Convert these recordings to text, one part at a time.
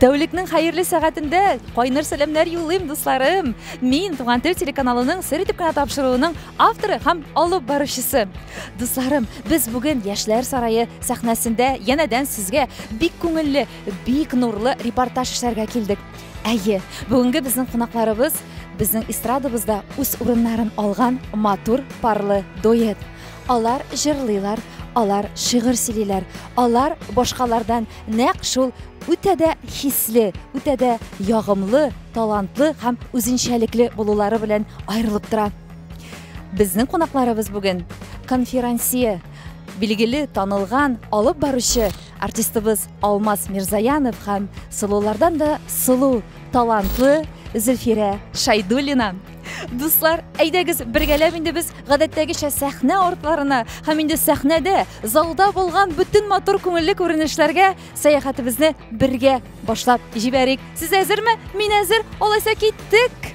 Тәүлекнең хәерле сәгатендә кайнар сәламнәр юллыйм, дусларым. Мин Туган тел телеканалының сер итеп кенә тапшыруының авторы һәм алып баручысы. Дусларым, без бүген Яшьләр сарае сәхнәсендә янәдән сезгә бик күңелле, бик нурлы репортаж эшләргә килдек. Әйе, бүгенге безнең кунакларыбыз безнең эстрадабызда үз урыннарын алган матур парлы дуэт. Алар җырлыйлар, алар шигырь сөйлиләр, алар башкалардан Нәкъ шул үтә дә хисле, үтә дә ягымлы, талантлы һәм үзенчәлекле булулары белән аерылып тора. Безнең кунакларыбыз бүген конферансье билгеле танылган алып баручы артистыбыз Алмаз Мирзаянов һәм сылулардан да сылу, талантлы Зөлфирә Шайдуллина. Дуслар, әйдәгез бергәләп инде без гадәттәгечә сәхнә артларына һәм инде сәхнәдә, залда булган бөтен матур күңелле күренешләргә сәяхәтебезне бергә башлап җибәрик. Сез әзерме? Мин әзер. Алайса киттек.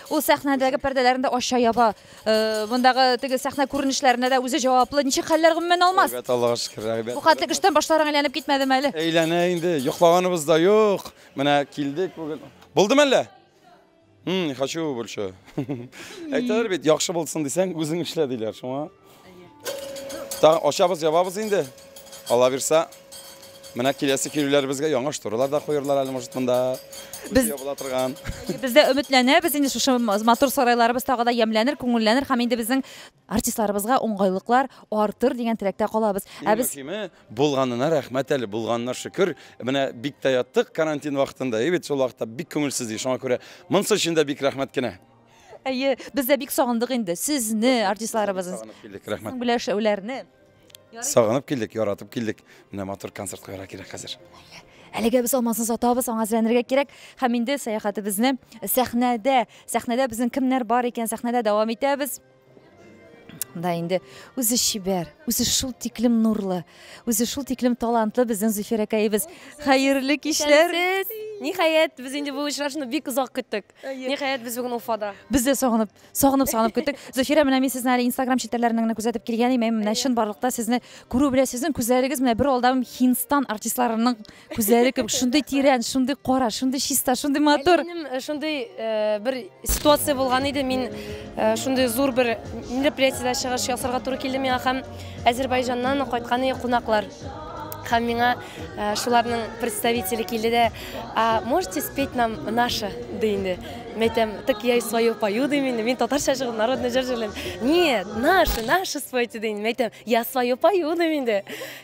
Ул сәхнәдәге пәрдәләрен дә ача, яба. Мондагы теге сәхнә күренешләренә дә үзе җаваплы. Ничек хәлләр, гомумән, Алмаз? Әйбәт, Аллага шөкер, әйбәт. Бу хәтлек эштән башларың әйләнеп китмәдеме әле? Әйләнә инде, йоклаганыбыз да юк. Менә килдек бүген. Булдымы әллә? Хм, не хочу больше. Әйтәләр бит, яхшы булсын дисәң, үзең эшлә, диләр, шуңа. Тагын ашабыз, ябабыз инде. Алла бирса, менә киләсе килүләребезгә яңа шторалар да куерлар әле, может, монда. Без ябыла торган. Без дә өметләнәбез, инде шушы матур сарайларыбыз тагы да ямьләнер, күңелләнер һәм инде безнең артистларыбызга уңгайлыклар артыр дигән теләктә калабыз. Ә без булганына рәхмәт әле, булганына шөкер. Менә бик тә яттык карантин вакытында, и бит шул вакытта бик күңелсез иде. Шуңа күрә монсы өчен дә бик рәхмәт кенә. Әйе, без дә бик сагындык инде сезне, артистларыбыз. Сагынып килдек, рәхмәт. Гөләшәүләрне. Сагынып килдек, яратып килдек. Менә матур концерт куярга кирәк хәзер. Әлегә без алмазны сатабыз, аңа әзерләнергә кирәк. Һәм инде сәяхәтебезне сәхнәдә, сәхнәдә безнең кемнәр бар икән, сәхнәдә дәвам итәбез. Да инде үзе чибәр, үзе шул тиклем нурлы, үзе шул тиклем талантлы безнең Зөфәр әкәебез. Хәерле кичләр. Ниһаять, без инде бу очрашуны бик озак көттек. Ниһаять, без бүген Уфада. Без дә сагынып, сагынып, сагынып көттек. Зөфирә, менә мин сезне әле Instagram челтәрләреннән генә күзәтеп килгән идем. Менә чын барлыкта сезне күрү белән сезнең күзләрегез менә бер алдам Хинстан артистларының Күзләре кебек шундый тирән, шундый кара, шундый чиста, шундый матур. Минем э, шундый э, бер ситуация булган иде. Мин э, шундый зур бер мероприятиедә чыгыш ясарга туры килде миңа һәм Әзербайҗаннан кайткан иде кунаклар. Һәм миңа э, шуларның представителе килде дә, а можете спеть нам наше, ди инде. Мен әйтәм, так я и свою пою, дим инде. Мин татарча җыр, народный җыр җырлыйм. Нет, наше, наше спойте, ди инде. Мен әйтәм, я свою пою, дим инде.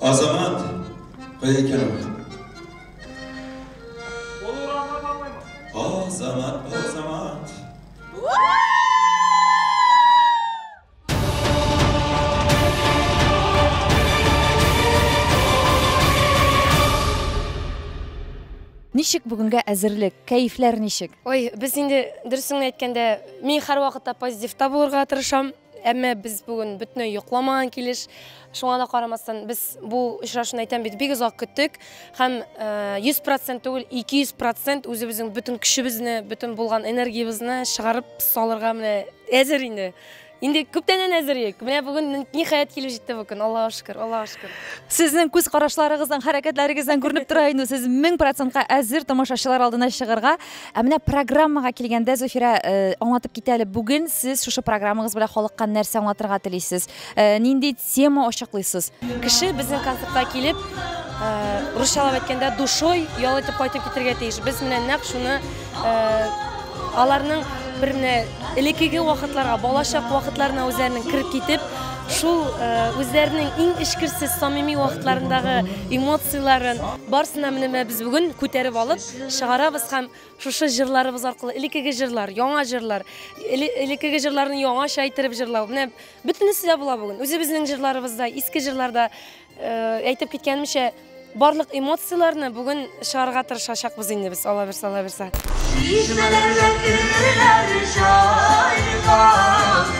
Азамат, кая икән ул? Ул урамда бармыймы? Азамат, Азамат. Ничек бүгенгә әзерлек? Кәефләр ничек? Ой, без инде дөресен генә әйткәндә, мин һәрвакытта позитивта булырга тырышам. Әмма без бүген бөтенләй йокламаган килеш, шуңа да карамастан, без бу очрашуны әйтәм бит, бик озак көттек һәм 100% э, түгел, 200% үзебезнең бөтен көчебезне, бөтен булган энергиябезне чыгарып салырга менә әзер инде. Инде күптәннән әзер идек. Менә бүген ниһаять килеп җитте бу көн. Аллаһу шөкер, Аллаһу шөкер. Сезнең күз карашларыгыздан, хәрәкәтләрегездән күренеп тора инде, сез 1000%-ка әзер тамашачылар алдына чыгарга. Ә менә программага килгәндә, Зөфирә, э, аңлатып китә әле, бүген сез шушы программагыз белән халыкка нәрсә аңлатырга телисез? Э, нинди тема ачыклыйсыз? Кеше безнең концертка килеп, э, русчалап әйткәндә, душой ял итеп кайтып китергә тиеш. Без менә нәкъ шуны э, аларның бер менә элеккеге вакытларга, балачак вакытларына үзләренең кереп китеп, шул э, үзләренең иң эчкерсез, самими вакытларындагы эмоцияләрен барсына менә без бүген күтәреп алып, чыгарабыз һәм шушы җырларыбыз аркылы элеккеге җырлар, яңа җырлар, элеккеге җырларны яңача әйттереп җырлау. Менә бөтенесе дә була бүген. Үзебезнең җырларыбызда, иске җырларда э, әйтеп киткәнемчә, барлык эмоцияләрне бүген чыгарга тырышачакбыз инде без, Алла бирса, Алла бирса.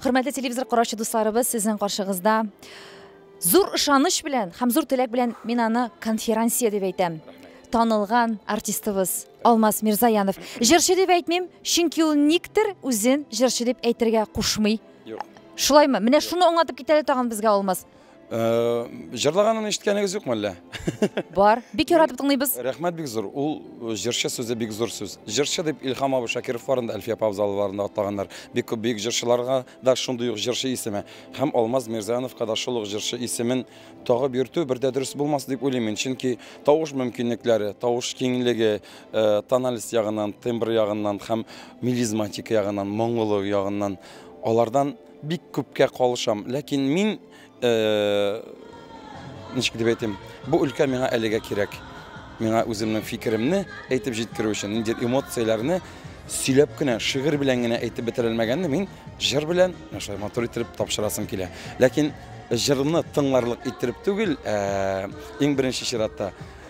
Хөрмәтле телевизор караучы дусларыбыз, сезнең каршыгызда зур ышаныч белән һәм зур теләк белән мин аны конферансье дип әйтәм. Танылган артистыбыз Алмаз Мирзаянов. Җырчы дип әйтмим, чөнки ул никтер үзен җырчы дип әйтергә кушмый. Юк. Шулаймы? Менә шуны аңлатып китәле тагын безгә Алмаз. Э, Җырлаганын ишеткәнегез юкмы әллә? Бар. Бик яратып тыңлыйбыз. Рәхмәт бик зур. Ул э, җырчы сүзе бик зур сүз. Җырчы дип Илхам абый Шакиров барында Әлфия апа абзаларында атлаганнар. Бик күп бөек җырчыларга да шундый ук җырчы исеме. Һәм Алмаз Мирзановка да шул ук җырчы исемен тагып йөртү бер дә дөрес булмас дип уйлыйм мин. Чөнки тавыш мөмкинлекләре, тавыш киңлеге, э, тональность ягыннан, тембр ягыннан һәм мелизматика ягыннан, моңлылык ягыннан алардан Бик күпкә калышам, ләкин мин, ничек дип әйтим, бу өлкә миңа әлегә кирәк. Миңа үземнең фикеремне әйтеп җиткерү өчен, нинди эмоцияләрне сөйләп кенә, шигырь белән генә әйтеп бетерә алмаганда, мин җыр белән шулай матур иттереп тапшырасым килә. Ләкин җырны тыңларлык иттереп түгел, иң беренче чиратта,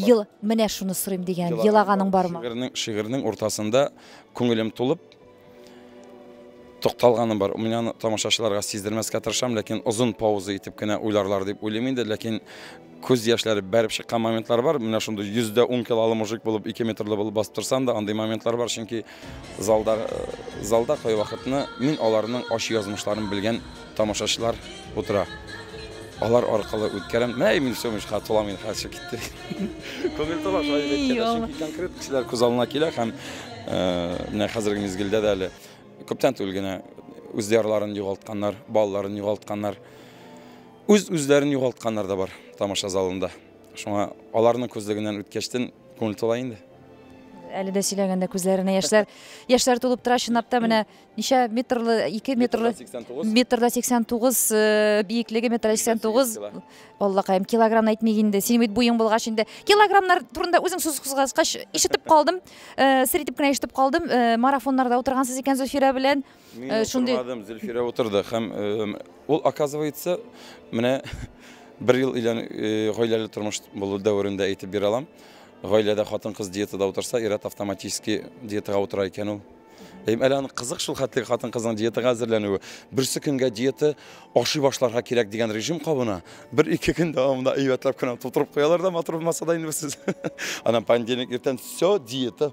Ел, менә шуны сорыйм дигән, елаганың бармы? Шигырьнең, шигырьнең уртасында күңелем тулып токталганым бар. Мин аны тамашачыларга сиздермәскә тырышам, ләкин озын пауза итеп кенә уйларлар дип уйлыйм инде, ләкин күз яшьләре бәреп чыккан моментлар бар. Менә шундый 100 дә 10 килолы мужик булып, 2 метрлы булып басып торсам да, андый моментлар бар, чөнки Залда залда кайвакытны мин аларның ачы язмышларын белгән тамашачылар утыра. Алар аркылы үткәрәм. Менә Эмиль Семович хат тола мин хәзер китте. Күңел тола шулай дип әйткәндә, чөнки конкрет кешеләр күз алдына килә һәм менә хәзерге мизгелдә дә әле күптән түгел генә үз диярларын югалтканнар, балаларын югалтканнар, үз-үзләрен югалтканнар да бар тамаша залында. Шуңа аларның күзлегеннән үткәчтен күңел тула инде. Әле дә сөйләгәндә күзләренә яшьләр яшьләр тулып тора чынлап та менә ничә метрлы 2 метрлы метрда 89 э, биеклеге метр 89 аллакаем килограмм әйтмик инде синең бит буең булгач инде килограммнар турында үзең сүз кузгаткач ишетеп калдым э, сер итеп кенә ишетеп калдым э, марафоннарда утыргансыз икән зөлфирә белән Мин э, шундый... утырмадым, Зөлфирә утырды һәм ул, оказывается, менә бер ел илән э, гаиләле тормыш булу дәверендә әйтеп бирә алам. Гаиләдә хатын-кыз диетада утырса, ират автоматически диетага утыра икән ул. Әле аны кызык шул хәтле хатын кызның диетага әзерләнүе. Берсе көнгә диета ашый башларга кирәк дигән режим кабына. Бер ике көн дәвамында әйбәтләп кенә тутырып куялар да матур булмаса да инде сез. Анан понедельник иртән все диета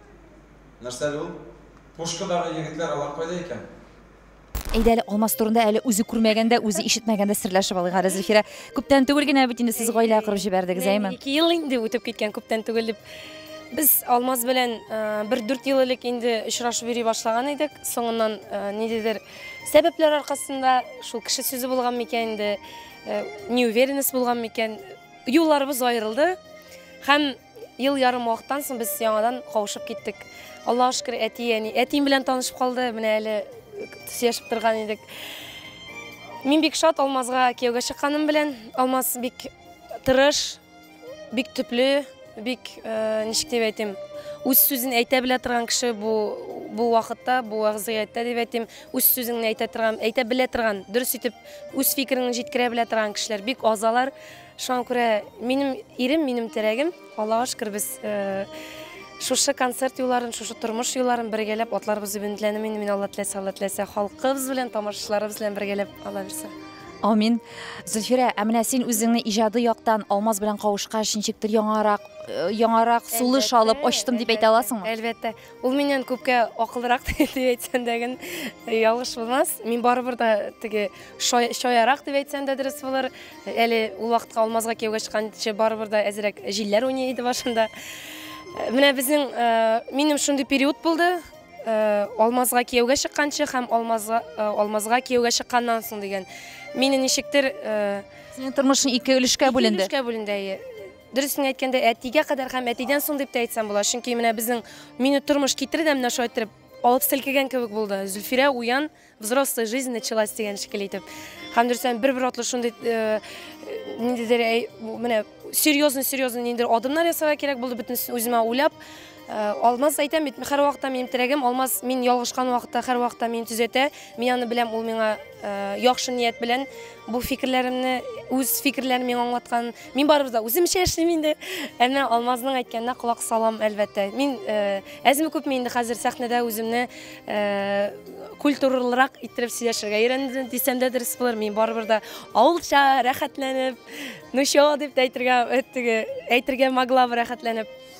Нәрсә әле ул? Пушкадагы егетләр алар кайда икән? Әйдә әле Алмаз турында әле үзе күрмәгәндә, үзе ишетмәгәндә серләшеп алыйк әле, Зөлфирә. Күптән түгел генә бит инде сез гаилә корып җибәрдегез, әйме? Ике ел инде үтеп киткән, күптән түгел дип. Без Алмаз белән бер дүрт ел элек инде очрашып йөри башлаган идек. Соңыннан ниндидер сәбәпләр аркасында, шул кеше сүзе булган микән инде, неуверенность булган микән, юлларыбыз аерылды. Һәм Ел ярым вакыттан соң без яңадан кавышып киттек. Аллаһ шөкер, әти, әни. Әтием белән танышып калды, менә әле сөйләшеп торган идек. Мин бик шат Алмазга кияүгә чыкканым белән. Алмаз бик тырыш, бик төпле, бик э, ничек дип әйтим, үз сүзен әйтә белә торган кеше бу бу вакытта, бу вәзгыятьтә дип әйтим, үз сүзеңне әйтә торган, әйтә белә торган, дөрес итеп үз фикереңне җиткерә белә торган кешеләр бик азалар. Шуңа күрә минем ирем, минем терәгем. Аллага шөкер, без шушы концерт юлларын, шушы тормыш юлларын бергәләп атларыбыз өбентләнеп, мин мин Алла теләсә, Алла теләсә, халкыбыз белән, тамашачыларыбыз белән бергәләп ала бирсә. Амин. Зөлфирә, ә менә син үзеңне иҗади яктан Алмаз белән кавышкач, ничектер яңарак, яңарак сулыш алып ачтым дип әйтә аласыңмы? Әлбәттә. Ул миннән күпкә акылрак дип әйтсән дә гел ялгыш булмас. Мин барыбер дә теге шаярак дип әйтсән дә дөрес булыр. Әле ул вакытка Алмазга кияүгә чыкканчы барыбер дә әзрәк җилләр уйный иде башында. Менә безнең минем шундый период булды. Э, алмазга кияүгә чыкканчы һәм алмазга э, алмазга кияүгә чыкканнан соң дигән мине ничектер э, синең тормышың ике өлешкә бүленде өлешкә бүленде әйе Дөресен әйткәндә, әтигә кадәр һәм әтидән соң дип тә әйтсәм була, чөнки менә безнең мине тормыш китерде дә менә шулай иттереп алып селкегән кебек булды. Зөлфирә уян, взрослый жизнь началась дигән шикелле итеп. Һәм дөрестән бер-бер атлы шундый э, ниндидер әй- менә серьезный серьезный ниндидер адымнар ясарга кирәк булды, бөтенесен үземә уйлап. Э, алмаз әйтәм бит һәрвакытта минем терәгем алмаз мин ялгышкан вакытта һәрвакытта мине төзәтә мин аны беләм ул миңа э, яхшы ният белән бу фикерләремне үз фикерләрен миңа аңлаткан мин барыбыз да үземчә эшлим инде әмма алмазның әйткәненә колак салам әлбәттә мин э, әзме күпме инде хәзер сәхнәдә үземне культуралырак иттереп сөйләшергә өйрәндем дисәм дә дөрес булыр мин барыбер да авылча рәхәтләнеп ну чё дип әйтергә әйтергә могла рәхәтләнеп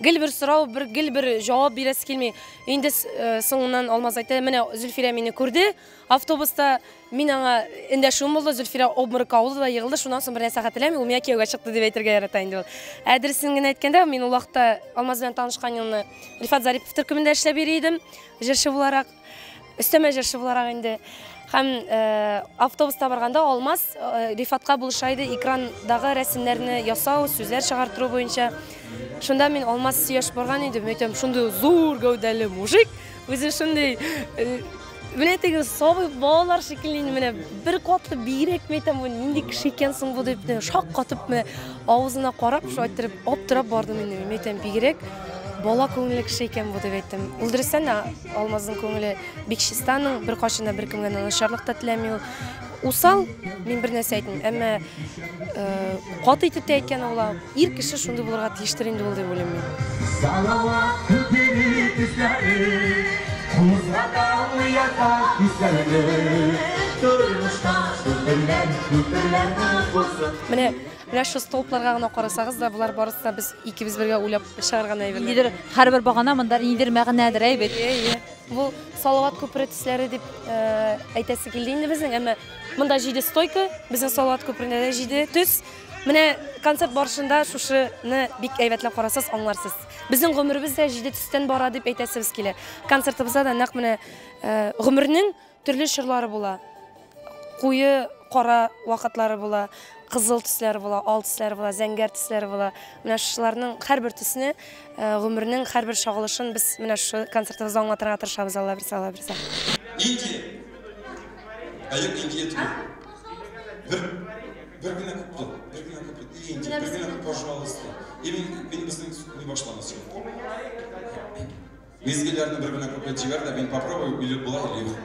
Гел бер сорау, бер гел бер җавап бирәсе килми. Инде э, соңыннан Алмаз әйтә, менә Зөлфирә мине күрде автобуста, мин аңа эндәшүем булды, Зөлфирә обморокка авылды да егылды, шуннан соң бер нәрсә хәтерләмим, ул миңа кияүгә чыкты дип әйтергә ярата инде ул. Ә дөресен генә әйткәндә, мин ул вакытта Алмаз белән танышкан елны Рифат Зарипов төркемендә эшләп йөри идем, җырчы буларак. Өстәмә җырчы буларак инде һәм э, автобуста барганда Алмаз э, Рифатка булыша иде экрандагы рәсемнәрне ясау, сүзләр чыгартыру буенча. Шунда мин Алмаз сөяш барган идем, әйтәм, шундый зур гәүдәле мужик, үзе шундый э, менә теге сабый балалар шикелле инде менә бер катлы бигрәк мәйтәм бу нинди кеше икән соң бу дип шаккатып менә авызына карап шулай иттереп аптырап бардым инде мәйтәм бигрәк Бала күңелле кеше икән бу, дип әйттем. Ул дөрестән дә Алмазның күңеле бик чиста, аның беркайчан да беркемгә начарлык та теләми ул. Усал, мин бер нәрсә әйтмим, әмма э, каты итеп тә әйткән ул. Ир кеше шундый булырга тиештер инде ул дип уйлыйм мин. Салават күпери тизләре, Кузга далы ята күзләре. Тормышта күперләр, күперләр булсын. Менә Менә шул столбларга гына карасагыз да, болар барысы да без икебез бергә уйлап чыгарган әйберләр. Ниндидер һәрбер багана монда ниндидер мәгънәдер әйбит. Ие, ие. Бу Салават күпере төсләре дип э, әйтәсе килде инде безнең, әмма монда җиде стойка, безнең Салават күперендә дә җиде төс. Менә концерт барышында шушыны бик әйбәтләп карасыз, аңларсыз. Безнең гомеребез дә җиде төстән бара дип әйтәсебез килә. Концертыбызда да нәкъ менә э, гомернең Төрле чорлары була. Куе кара вакытлары була, кызыл төсләре була, ал төсләре була, зәңгәр төсләре була. Менә шуларның һәрбер төсне, э, гомернең һәрбер чагылышын без менә шу концертыбызда аңлатырга тырышабыз, Алла бирсә, Алла бирсә. Инки. Ә юк, инки етми. Бер, бер генә күп тот, бер генә күп тот. И, инки, бер генә күп, пожалуйста. И, мин, мин безнең не башламас. Мизгелләрне бер генә куплет җибәр дә, мин попробую, билеп була или юк.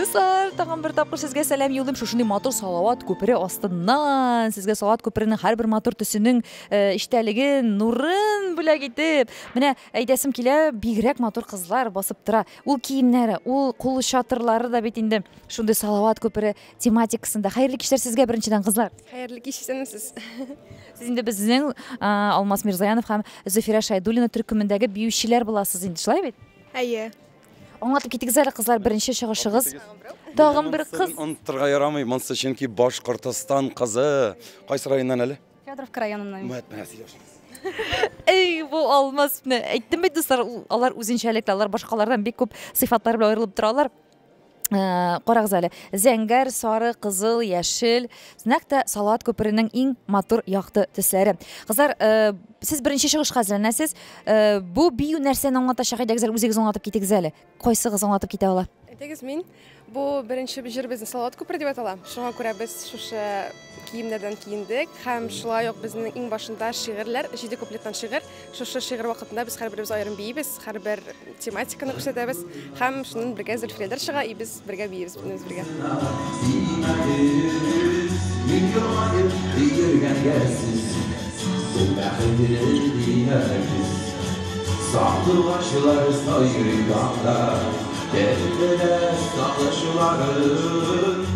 Дуслар, тагын бер тапкыр сезгә сәлам юллыйм. Шушындый матур салават күпере астыннан сезгә салават күперенең һәрбер матур төсенең э, иштәлеген, нурын бүләк итеп. Менә әйдәсем килә, бигрәк матур кызлар басып тора. Ул киемнәре, ул кул чатырлары да бит инде шундый салават күпере тематикасында хәерле кичләр сезгә беренчедән кызлар хәерле кич исәнме сез сез инде безнең алмаз мирзаянов һәм зөфирә шайдуллина төркемендәге биючеләр буласыз инде шулай бит әйе аңлатып китегез әле кызлар беренче чыгышыгыз тагын бер кыз оныттырга ярамый монысы чөнки башкортостан кызы кайсы районнан әле федоровка районыннан менә сөйләшегез Эй, бу алмаз. Әйттем бит, дуслар, алар үзенчәлекле, алар башкалардан бик күп сыйфатлар белән аерылып торалар. Э, карагыз әле зәңгәр сары кызыл яшел нәкъ тә салат күперенең иң матур якты төсләре кызлар э, сез беренче чыгышка әзерләнәсез э, бу бию нәрсәне аңлатачак идегез әле үзегез аңлатып китегез әле кайсыгыз аңлатып китә ала әйтегез мин бу беренче җыр безнең салават күпере дип атала шуңа күрә без шушы киемнәрдән киендек һәм шулай ук безнең иң башында шигырьләр, җиде куплеттан шигырь. Шушы шигырь вакытында без һәрберебез аерым биибез, һәрбер тематиканы күрсәтәбез һәм шуннан бергә Зөлфирәләр чыга и без бергә биибез бөтенебез бергә.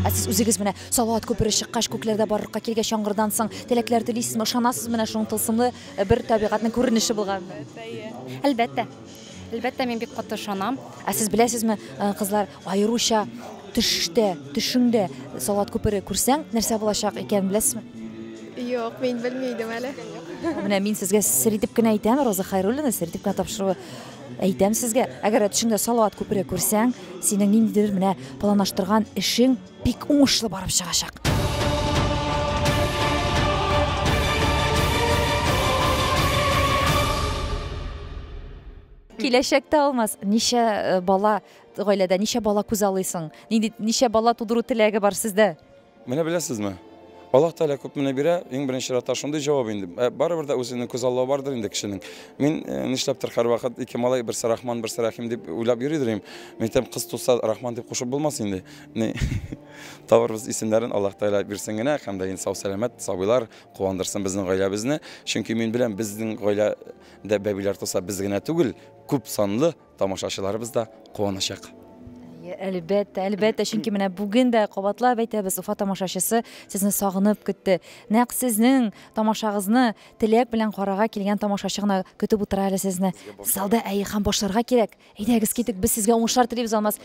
Ә сез үзегез менә Салават күпере чыккач, күкләрдә барлыкка килгәч яңгырдан соң теләкләр телисезме, ышанасыз менә шуның тылсымлы бер табигатьнең күренеше булганына? Әлбәттә, әйе. Әлбәттә. Әлбәттә, мин бик каты ышанам. Ә сез беләсезме, э, кызлар, аеруча төштә, төшеңдә Салават күпере күрсәң, нәрсә булачак икәнен беләсезме? Юк, мин белми идем әле. Менә мин сезгә сер итеп кенә әйтәм, Роза Хайруллина сер итеп кенә тапшыруы әйтәм сезгә. Әгәр дә төшеңдә Салават күпере күрсәң, синең ниндидер менә планлаштырган эшең бик уңышлы барып чыгачак. Киләчәктә алмаз, ничә э, бала гаиләдә, ничә бала күз алыйсың? Нинди ничә бала тудыру теләге бар сездә? Менә беләсезме? Аллаһ Тәгалә күп менә бирә, иң беренче чиратта шундый җавап инде. Ә, Барыбер дә үзенең күз аллавы бардыр инде кешенең. Мин э, нишләптер һәрвакыт ике малай, берсе Рахман, берсе Рәхим дип уйлап йөридер идем. Мәктәп кыз туса Рахман дип кушып булмас инде. Ни, табарбыз исемнәрен Аллаһ Тәгалә бирсен генә һәм дә инде сау-сәламәт сабыйлар куандырсын безнең гаиләбезне. Чөнки мин беләм, безнең гаиләдә бәбиләр туса без генә түгел, күп санлы тамашачыларыбыз да куаначак. Әлбәттә, әлбәттә, чөнки менә бүген дә кабатлап әйтәбез, Уфа тамашачысы сезне сагынып көтте. Нәкъ сезнең тамашагызны теләк белән карарга килгән тамашачы гына көтеп утыра әле сезне. Залда әй һәм башларга кирәк. Әйдәгез китик, без сезгә уңышлар телибез, Алмаз.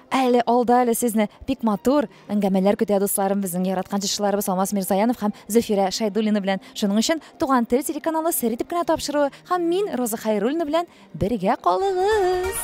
Әле алда әле сезне бик матур әңгәмәләр көтә, дусларым, безнең яраткан җырчыларыбыз Алмаз Мирзаянов һәм Зөфирә Шайдуллина белән. Шуның өчен Туган тел телеканалы сер итеп кенә тапшыруы һәм мин Роза Хайруллина белән бергә калыгыз.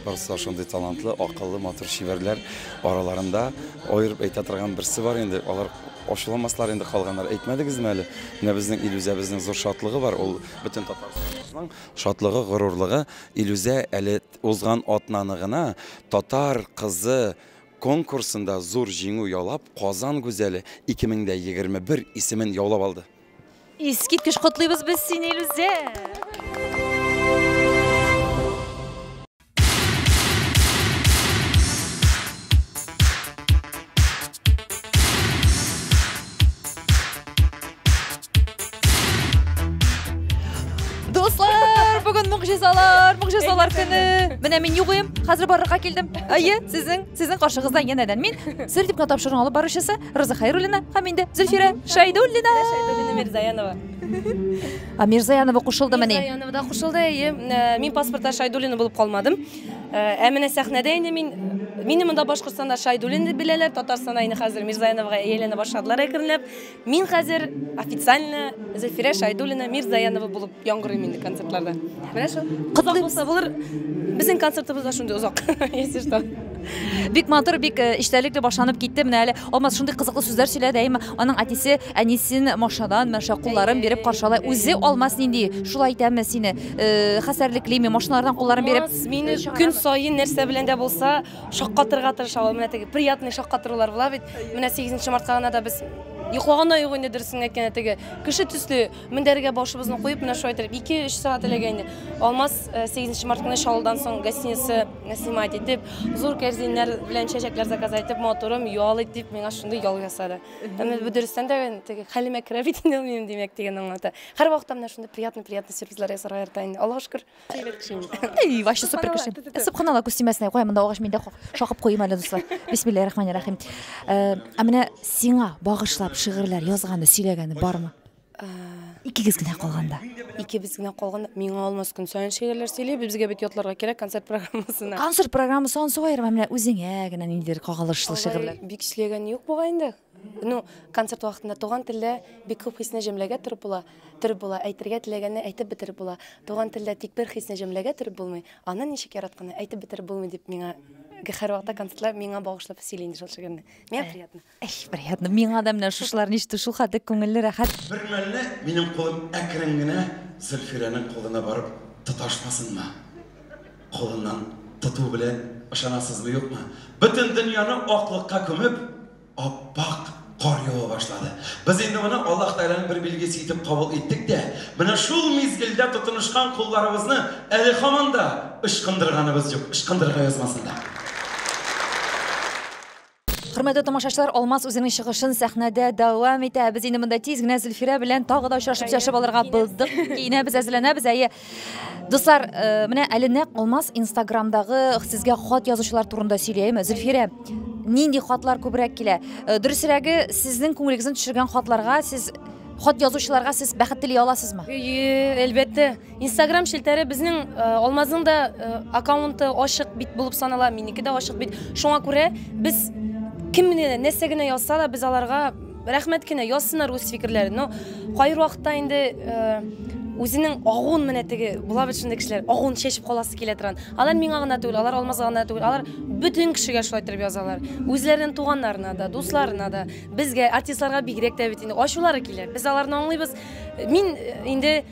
Барысы да шундый талантлы, акыллы, матур, чибәрләр. Араларында аерып әйтә торган берсе бар инде. Алар ачуламаслар инде калганнар. Әйтмәдегезме әле? Менә безнең Илүзәбезнең зур шатлыгы бар. Ул бөтен Татарстаныбызның шатлыгы, горурлыгы. Илүзә әле узган атнаны гына Татар кызы конкурсында зур җиңү яулап, Казан гүзәле 2021 исемен яулап алды. Искиткеч котлыйбыз без сине, Илүзә! могҗизалар, могҗизалар көне. Менә мин юк идем, хәзер барырга килдем. Әйе, сезнең, сезнең каршыгызда янәдән мин, сер дип кенә тапшыруны алып баручысы. Роза Хайруллина һәм инде Зөлфирә Шайдуллина. Шайдуллина Мирзаянова. А Мирзаянова кушылды мени. Мирзаянова да кушылды. Әйе, э, мин паспортта Шайдуллина булып калмадым. Э, ә менә сәхнәдә инде мин Мине монда Башкортстанда Шайдуллинны беләләр, Татарстанда инде хәзер Мирзаяновага әйләнә башладылар әкренләп. Мин хәзер официально Зәфирә Шайдуллина Мирзаянова булып Яңгырыйм инде концертларда. Менә шул. Кызак булса булыр. Безнең концертыбыз да шундый озак. Если что. Бик матур, бик э, эчтәлекле башланып китте. Менә әле Алмаз шундый кызыклы сүзләр сөйләде. Әйме, аның әтисе әнисен машадан, мәшә кулларын биреп каршылай. Үзе Алмаз нинди? Шулай итәме сине? Э, Хәсәрлеклиме? Машиналардан кулларын биреп. Алмаз мине көн саен нәрсә белән дә булса шаккатырга тырыша ул. Менә теге приятный шаккатырулар була бит. Менә 8 мартка гына да без йоклаганда юк инде дөресен әйткәндә теге кеше төсле Мендәргә башыбызны куеп, менә шулай итеп 2-3 сәгать эләгә инде. Алмаз 8 март көне Чаллыдан соң гостиница снимать итеп, зур кәрзиннәр белән чәчәкләр заказ итеп, матурым ял ит дип, миңа шундый ял ясады. Әмма бу дөрестән дә теге хәлемә керә бит инде минем димәк дигән аңлата. Һәрвакытта менә шундый приятный-приятный сюрпризлар ясарга ярата инде. Аллага шөкер. Эй, ваще супер кеше. Субханалла күз тимәсенә куя, монда агач миндә шакып куйым әле, дуслар. Бисмиллаһи рахманир рахим. Э, ә менә сиңа багышлап шигырьләр язганы, сөйләгәне бармы? Э, Икегез генә калганда. Икебез генә калганда миңа алмас көн саен шигырьләр сөйли, безгә бит ятларга кирәк концерт программасына. Концерт программасы ансы аерма, менә үзеңә генә ниндидер кагалышлы шигырьләр. Бик эшләгән юк бугай инде. Ну, концерт вакытында туган телдә бик күп хисне җөмләгә төреп була, төреп була, әйтергә теләгәнне әйтеп бетереп була. Туган телдә тик бер хисне җөмләгә төреп булмый, аны ничек яратканны әйтеп бетереп булмый, дип миңа һәрвакытта концертлар миңа багышлап сөйли инде шул шигырьне. Миңа э, приятно. Ай, приятно. Миңа да менә шушлар ништу, шул хәтле күңелле, рәхәт. Бер мәлне минем кулым әкрен генә Зөлфирәнең кулына барып тоташмасынмы? Кулыннан тоту белән, ышанасызмы-юкмы, бөтен дөньяны аклыкка күмеп, ап-ак кар ява башлады. Без инде моны Аллаһ Тәгаләнең бер билгесе итеп кабул иттек тә, менә шул мизгелдә тотынышкан кулларыбызны әле һаман да ычкындырганыбыз юк, ычкындырырга язмасын да. Хөрмәтле тамашачылар, Алмаз үзенең чыгышын сәхнәдә дәвам итә. Без инде монда тиз генә Зөлфирә белән тагы да очрашып сөйләшеп алырга булдык. Киенәбез, әзерләнәбез. Әйе. Дуслар, э, менә әле нәкъ Алмаз Инстаграмдагы сезгә хат язучылар турында сөйләеме? Зөлфирә, нинди хатлар күбрәк килә? Э, Дөресрәге, сезнең күңелегезне төшергән хатларга сез хат язучыларга сез бәхет тели аласызмы? Әйе, әлбәттә. Инстаграм челтәре безнең э, Алмазның да э, аккаунты ачык бит булып санала, минеке дә ачык бит. Шуңа күрә без кем генә нәрсә генә язса да без аларга рәхмәт кенә язсыннар үз фикерләрен. Но кайбер вакытта инде э, үзенең агуын менә теге була бит шундый кешеләр, агуын чәчеп каласы килә торган. Алар миңа гына түгел, алар Алмазга гына түгел, алар бөтен кешегә шулай торып язалар. Үзләренең туганнарына да, дусларына да, безгә, артистларга бигрәк тә бит инде ачулары килә. Без аларны аңлыйбыз. Мин инде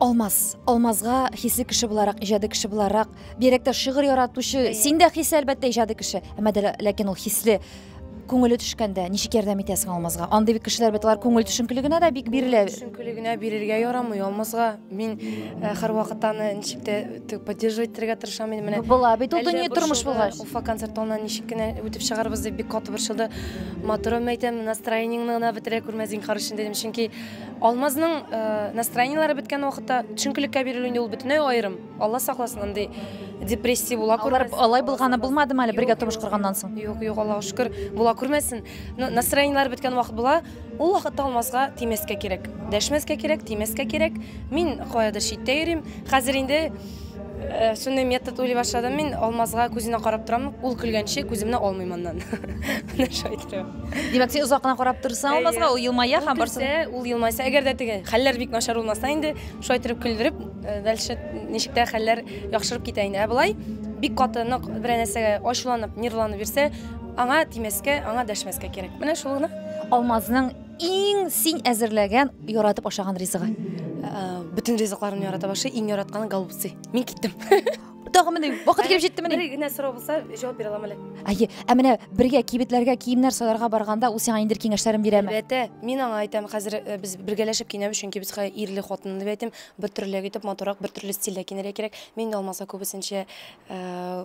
Алмаз, Алмазга хисле кеше буларак, иҗади кеше буларак, бигрәк шигырь яратучы, син дә хисле әлбәттә иҗади кеше, әмма дә ләкин ул хисле күңеле төшкәндә ничек ярдәм итәсең алмазга андый бит кешеләр бит алар күңел төшенкелегенә дә бик бирелә төшенкелегенә бирергә ярамый алмазга мин э, һәрвакыт аны ничек тә э, поддерживать итәргә тырышам инде менә була бит ул дөнья тормыш булгач уфа концерт алынан ничек кенә үтеп чыгарбыз дип бик каты борчылды матурым әйтәм настроениеңне гына бетерә күрмә зинһар өчен дидем чөнки Алмазның настроениеләре беткән вакытта төшенкелеккә бирелү инде ул бөтенләй аерым. Алла сакласын андый депрессия була күрмәс. Алар алай булганы булмады әле бергә тормыш корганнан соң? Юк, юк, Аллага шөкер, була күрмәсен. Настроениеләре беткән вакыт була. Ул вакытта Алмазга тимәскә кирәк. Дәшмәскә кирәк, тимәскә кирәк. Мин каядыр читтә йөрим. Хәзер инде Э, шундый метод уйлый башладым мин алмазга күзенә карап торам ул көлгәнче күземне алмыйм аннан менә шулай торам димәк син озак кына карап торсаң алмазга ул елмая һәм барсы ул елмайса әгәр дә теге хәлләр бик начар булмаса инде шулай торып көлдереп э, дальше ничек тә хәлләр яхшырып китә инде ә болай бик каты нык берәр нәрсәгә ачуланып нервланып йөрсә аңа тимәскә аңа дәшмәскә кирәк менә шул гына алмазның Иң син әзерләгән, яратып ашаган ризыгы? Ә, Бөтен ризыкларымны ярата башы, иң яратканы голубцы. Мин киттем. Тагы менә вакыт килеп җитте менә. Бер генә сорау булса, җавап бирә алам әле. Әйе, ә менә бергә кибетләргә киемнәр сайларга барганда ул сиңа инде киңәшләрен бирәме? Әлбәттә, мин аңа әйтәм, хәзер э, без бергәләшеп киенәбез, чөнки безгә ирле хатынлы дип әйтәм, бер төрлерәк итеп, матуррак, бер төрле стильдә киенергә кирәк. Мин дә алмаса күбесенчә э,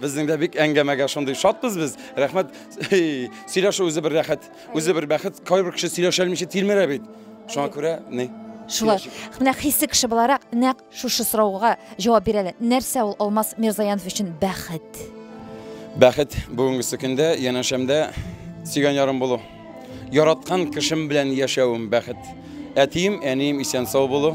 Безнең дә бик әңгәмәгә шундый шатбыз без. Рәхмәт. Сөйләшү үзе бер рәхәт, үзе бер бәхет. Кайбер кеше сөйләшә алмыйча тилмерә бит. Шуңа күрә ни? Шулай. Менә хисе кеше буларак нәкъ шушы сорауга җавап бирә әле. Нәрсә ул Алмаз Мирзаянов өчен бәхет? Бәхет бүгенгесе көндә янәшәмдә сөйгән ярым булу. Яраткан кешем белән яшәвем бәхет. Әтием, әнием исән сау булу.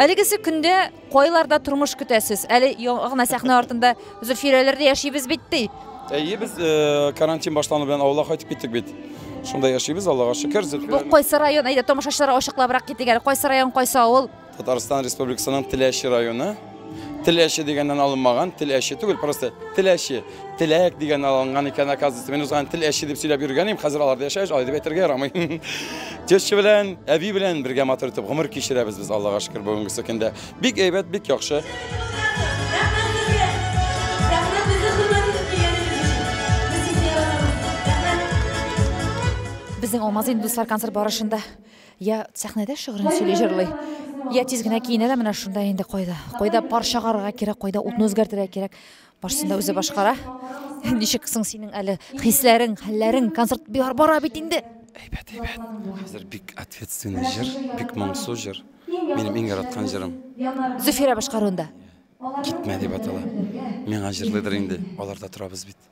Әлегесе көндә кайларда тормыш көтәсез? Әле яңа гына сәхнә артында Зөлфирәләрдә яшибез бит ди. Әйе, без э, карантин башлану белән авылга кайтып киттек бит. Шунда яшибез, Аллага шөкер. Бу Зөлфирә кайсы район? Әйдә, тамашачыларга ачыклабрак китик әле. Кайсы район, кайсы авыл? Татарстан Республикасының Теләче районы. Теләче дигәннән алынмаган, теләче түгел, просто теләче. Теләк дигәннән алынган икән, оказывается. Мин узган теләче дип сөйләп йөргән идем, хәзер аларда яшәгәч, алай дип әйтергә ярамый. Теща белән, әби белән бергә матур итеп гомер кичерәбез без, Аллага шөкер, бүгенгесе көндә. Бик әйбәт, бик яхшы. Безнең алмазый инде, дуслар, концерт барышында Я сәхнәдә шигырен сөйли җырлый, я тиз генә киенә дә менә шунда инде кайда. Кайда пар чыгарырга кирәк, кайда утны үзгәртергә кирәк. Барсын да үзе башкара. Ничек соң синең әле хисләрең, хәлләрең, концерт бер бара бит инде. Әйбәт, әйбәт. Хәзер бик ответственный җыр, бик моңсу җыр. Минем иң яраткан җырым. Зөфирә башкаруында. Китмә дип атала. Миңа җырлыйдыр инде. Аларда торабыз бит.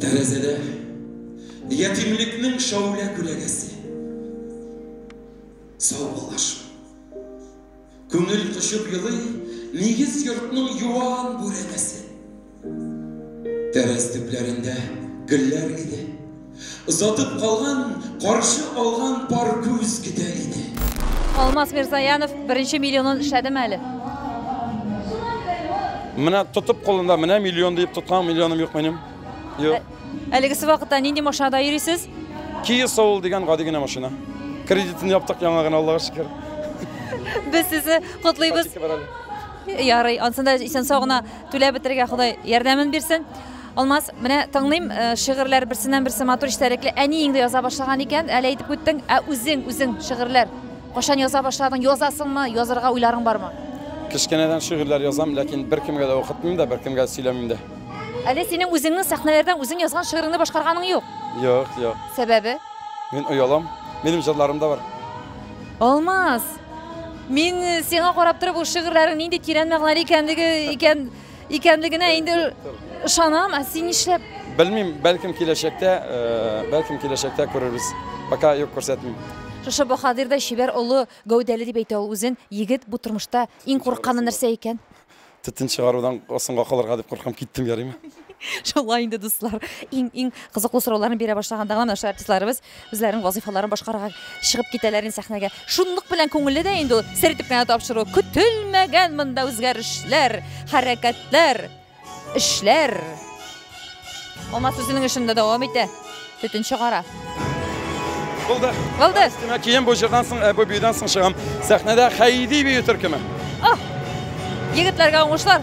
Тәрәзәдә ятимлекнең шаулә күләгәсе. Сау балаш. Күңел кочып елый, нигез йортның юан бүрәнәсе. Тәрәз төпләрендә гөлләр иде. Озатып калган, каршы алган пар күз көтә иде. Алмаз Мирзаянов беренче миллионын эшләдеме әле? Менә тотып кулында, менә миллион диеп тоткан миллионым юк минем. Юк. Әлегесе вакытта нинди машинада йөрисез? Kia Soul дигән гади генә машина. Кредитын яптык яңа гына, Аллага шөкер. Без сезне котлыйбыз. Ярый, ансын да исән-сау гына түләп бетерергә Ходай ярдәмен бирсен. Алмаз, менә тыңлыйм, шигырьләр берсеннән-берсе матур, эчтәлекле. Әниең дә яза башлаган икән, әле әйтеп үттең. Ә үзең, үзең шигырьләр кайчан яза башладың, язасыңмы, язарга уйларың бармы? Кечкенәдән шигырьләр язам, ләкин беркемгә дә укытмыйм да, беркемгә дә сөйләмим дә. Әле синең үзеңнең сәхнәләрдән үзең язган шигыреңне башкарганың юк? Юк, юк. Сәбәбе? Мин оялам. Минем җырларым да бар. Алмаз, мин сиңа карап торып, ул шигырьләрең нинди тирән мәгънәле икәнлеге икән, Икәнлегенә инде ышанам, ә син нишләп? Белмим, бәлкем киләчәктә, э, бәлкем киләчәктә күрербез. Пока юк күрсәтмим. Шушы баһадирдай чибәр олы гәүдәле дип әйтә ул үзен. Егет бу тормышта иң курыкканы нәрсә икән? Төтен чыгарудан соңга калырга дип куркам, киттем, ярыймы? Шулай инде, дуслар. Иң-иң кызыклы сорауларны бирә башлаганда гына менә шул артистларыбыз Үзләренең вазыйфаларын башкарырга чыгып китәләр инде сәхнәгә. Шунлык белән күңелле дә инде ул сер итеп кенә тапшыру. Көтелмәгән монда үзгәрешләр, хәрәкәтләр, эшләр. Алмаз үзенең эшен дә дәвам итә. Төтен чыгара. Булды. Булды. Өстемә кием бу җырдан соң, ә, бу биюдән соң чыгам. Сәхнәдә Хәйди бию төркеме. Ах! Егетләргә уңышлар!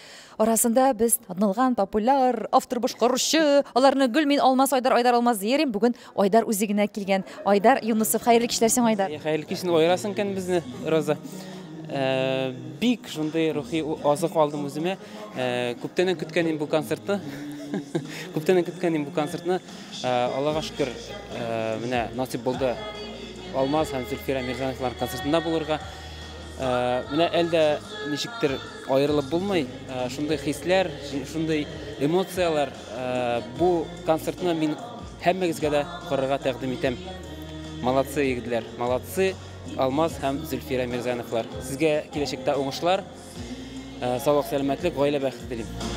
Арасында без танылган популяр автор башкаручы, аларны гөл мин алмас Айдар Айдар алмас диерим. Бүген Айдар үзе генә килгән. Айдар Юнусов, хәерле кичләр сиңа Айдар. Хәерле кич, инде аерасың икән безне, Роза. Э, бик шундый рухи азык алдым үземә. Э, күптәннән көткән инде бу концертны. Күптәннән көткән инде бу концертны. Э, Аллага шөкер, менә насип булды. Алмаз һәм Зөлфирә Мирзановлар концертында булырга. Менә әлдә ничектер Аерылып булмый шундый хисләр, шундый эмоцияләр. Бу концертны мин һәммәгезгә дә карарга тәкъдим итәм. Молодцы, егетләр, молодцы, Алмаз һәм Зөлфирә Мирзяновлар. Сезгә киләчәктә уңышлар, саулык, сәламәтлек, гаилә бәхете телим.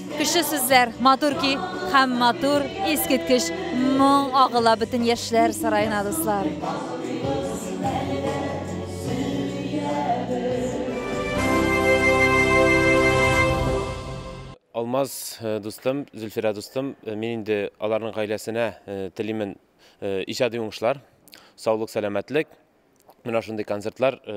Көчле сүзләр, матур көй һәм матур, искиткеч моң агыла бөтен яшьләр сараена, дуслар. Алмаз э, дустым, Зөлфирә дустым, э, мин инде аларның гаиләсенә э, телимен иҗади уңышлар, саулык, сәламәтлек, Менә шундый концертлар э,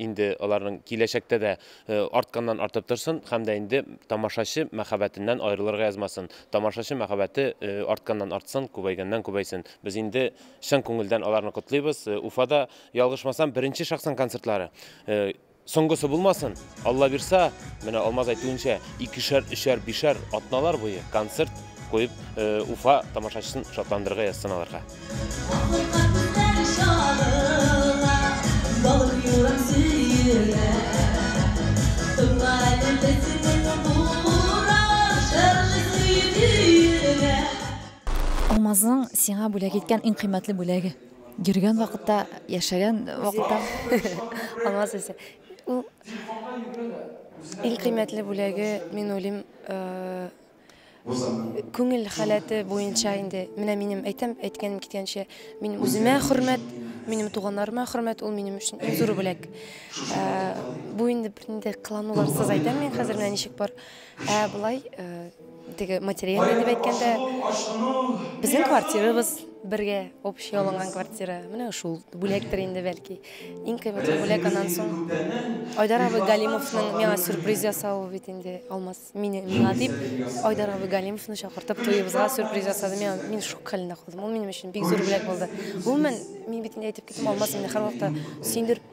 инде аларның киләчәктә дә э, артканнан артып торсын һәм дә инде тамашачы мәхәббәтеннән аерылырга язмасын. Тамашачы мәхәббәте э, артканнан артсын, күбәйгәннән күбәйсен. Без инде чын күңелдән аларны котлыйбыз. Уфада ялгышмасам, беренче шахсан концертлары. Соңгысы булмасын, Аллабирса, менә Алмаз әйтүенчә, икешәр, өчәр, бишәр атналар буе концерт куеп, Уфа тамашачысын шатландырырга язсын аларга. Алмазның сиңа бүләк иткән иң кыйммәтле бүләге. Йөргән вакытта, яшәгән вакытта. Алмаз үзе. Ул иң кыйммәтле бүләге, мин уйлыйм, күңел халәте буенча инде. Менә минем әйтәм, әйткәнем киткәнчә, мин үземә хөрмәт, минем туганнарыма хөрмәт, ул минем өчен иң зур бүләк. Бу инде бернинди кылануларсыз әйтәм мин хәзер менә ничек бар. Ә болай теге материал дип әйткәндә, безнең квартирабыз бергә общий алынган квартира. Менә шул бүләктер инде бәлки. Иң кыйммәтле бүләк аннан соң Айдар абый Галимовның миңа сюрприз ясавы бит инде. Алмаз мине миңа дип Айдар абый Галимовны чакыртып туебызга сюрприз ясады. Мин мин шок хәлендә калдым. Ул минем өчен бик зур бүләк булды. Гомумән, мин бит инде әйтеп киттем, Алмаз мине һәрвакыт сөендереп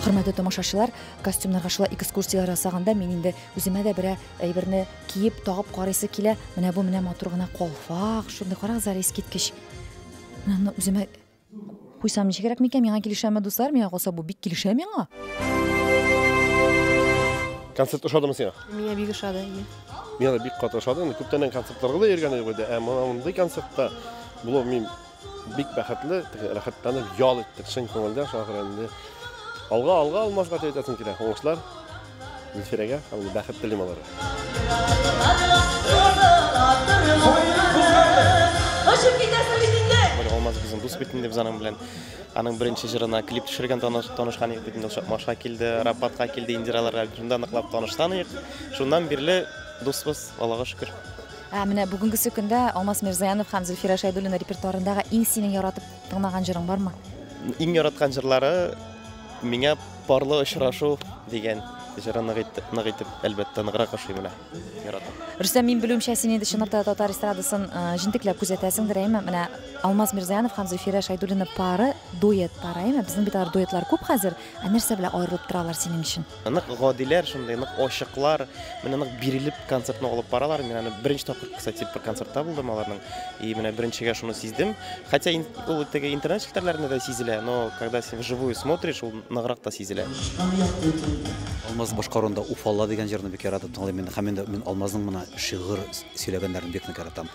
Хөрмәтле тамашачылар, костюмнарга шулай экскурсияләр ясаганда мин инде үземә дә берәр әйберне киеп, тагып карыйсы килә. Менә бу менә матур гына калфак, шундый карагыз әле искиткеч. Менә аны үземә Куйсам ничегрәк микән, миңа килешәме, дуслар? Миңа калса, бу бик килешә миңа. Концерт ошадымы сиңа? Миңа бик ошады. Миңа да бик кат ошады. Инде күптәннән концертларга да йөргән идек инде. Ә мондый концертта булу мин бик бәхетле, рәхәтләнеп ял иттек чын күңелдән. Шуңа күрә инде алга алга алмазга әйтәсем килә. Уңышлар. Гөлфирәгә һәм ул бәхет телим алар. Очып китәсең бит инде. Бер алмаз безнең дус бит инде без аның белән. Аның беренче җырына клип төшергән таныш танышкан идек бит инде Чакмашка килде, Рапатка килде, Индираларга шунда ныклап танышкан идек. Шуннан бирле дусбыз, Аллага шөкер. Ә менә бүгенгесе көндә Алмаз Мирзаянов һәм Зөлфирә Шәйдуллина репертуарындагы иң синең яратып тыңлаган җырың бармы? Иң яраткан җырлары Миңа парлы очрашу дигән җыры нык итеп, нык итеп, әлбәттә, ныграк ошый менә. Яратам. Рөстәм, мин белүемчә, син инде чынлап та татар эстрадасын э, җентекләп күзәтәсеңдер, әйме? Менә Алмаз Мирзаянов һәм Зөлфирә Шайдуллина пары, дуэт пары, әйме? Безнең бит алар дуэтлар күп хәзер. Ә нәрсә белән аерылып торалар синең өчен? Нык гадиләр, шундый нык ачыклар, менә нык бирелеп концертны алып баралар. Мин аны беренче тапкыр, кстати, бер концертта булдым аларның. И менә беренчегә шуны сиздем. Хотя ул теге интернет челтәрләрендә дә сизелә, но когда син вживую смотришь, ул ныграк та сизелә. Алмаз башкаруында Уфалла дигән җырны бик яратып тыңлыйм мин. Һәм инде мин Алмазның менә шигырь сөйләгәннәрен бик нык яратам.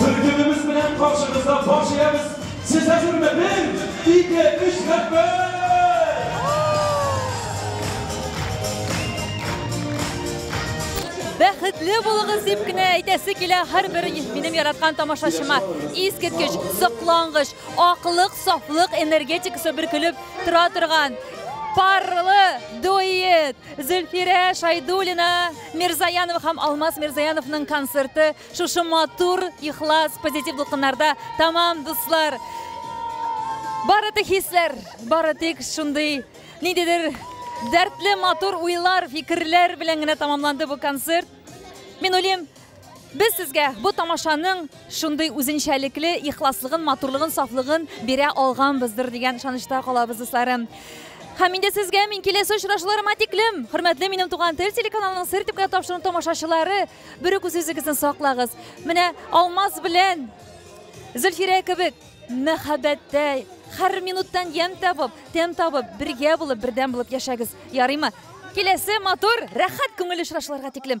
Төркемебез белән каршыгызда баш иябез, сез әзерме? Бер, ике, өч, рәхмәт! Бәхетле булыгыз дип кенә әйтәсе килә һәрбер минем яраткан тамашачыма. Искиткеч, соклангыч, аклык, сафлык энергетикасы бөркелеп тора торган парлы дуэт Зөлфирә Шайдуллина Мирзаянова һәм Алмаз Мирзаяновның концерты шушы матур, ихлас, позитив дулкыннарда тәмам, дуслар. Бары тик хисләр, бары тик шундый ниндидер дәртле матур уйлар, фикерләр белән генә тәмамланды бу концерт. Мин уйлыйм, Без сезгә бу тамашаның шундый үзенчәлекле ихласлыгын, матурлыгын, сафлыгын бирә алганбыздыр дигән ышанычта калабыз, дусларым. Һәм инде сезгә мин киләсе очрашуларыма тиклем, хөрмәтле минем туган тел телеканалының сер дип кенә тапшыруын тамашачылары, берүк үзегезне саклагыз. Менә Алмаз белән Зөлфирә кебек мәхәббәттә һәр минуттан ямь табып, тәм табып, бергә булып, бердәм булып яшәгез. Ярыймы? Киләсе матур, рәхәт күңелле очрашуларга тиклем.